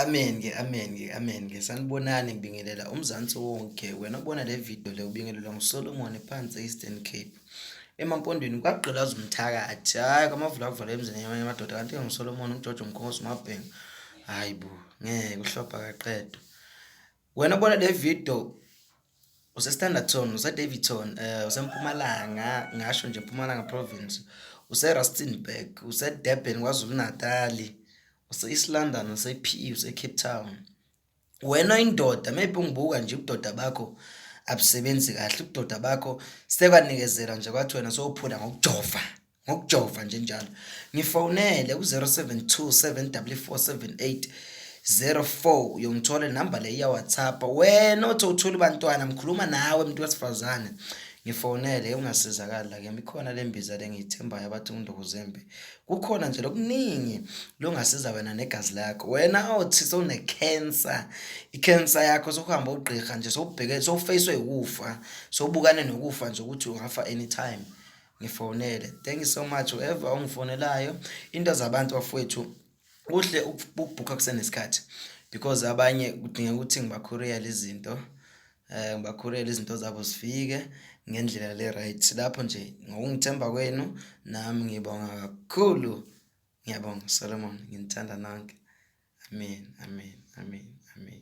Amen-ke, amen-ke, amen-ke. Sanibonani, ngibingelela uMzansi wonke. Wena obona le video le ubingelelwa nguSolomon ephansi e-Eastern Cape. EmaMpondweni kwagqilaza umthakathi. Hhayi, kwamavula kuvala emzini yamanye amadoda. Kanti-ke nguSolomon, uJojo Mkhongosi, uMabhengu. Hhayi bo, ngeke uhlopha kaqedwa. Wena bona le video usestanderton usedavidton um eh, usempumalanga ngasho nje mpumalanga province userustenburg usedurban kwazulu natali use-east london use-p use-cape town wena indoda maybe ungibuka nje ubudoda bakho abusebenzi kahle ubudoda bakho sekwanikezela nje kwathi wena sowuphula ngokujova ngokujova nje njalo ngifonele ku-072 744 uyongithola namba le iyawhatsapp wena othi uthula bantwana mkhuluma nawe mntu wesifazane ngifonele ungasizakali la kuyami ikhona le mbiza le ngiyithembayo abathi undokuzembe kukhona nje lokuningi longasiza wena negazi lakho wena othi sowune-cancer i-cancer yakho sokuhamba ugqirha nje sowubheke sowufeyiswe ukufa sowubukane nokufa nje ukuthi ungafa anytime ngifonele thank you so much whoever ongifonelayo into zabantu bafowethu kuhle ukubhukha kusenesikhathi because abanye kudingeka ukuthi ngibakhuriyele izinto um ngibakhuriyele izinto zabo zifike ngendlela le-right lapho nje ngokungithemba kwenu nami ngibonga kakhulu ngiyabonga solomon nginithanda nonke amen amen amen amen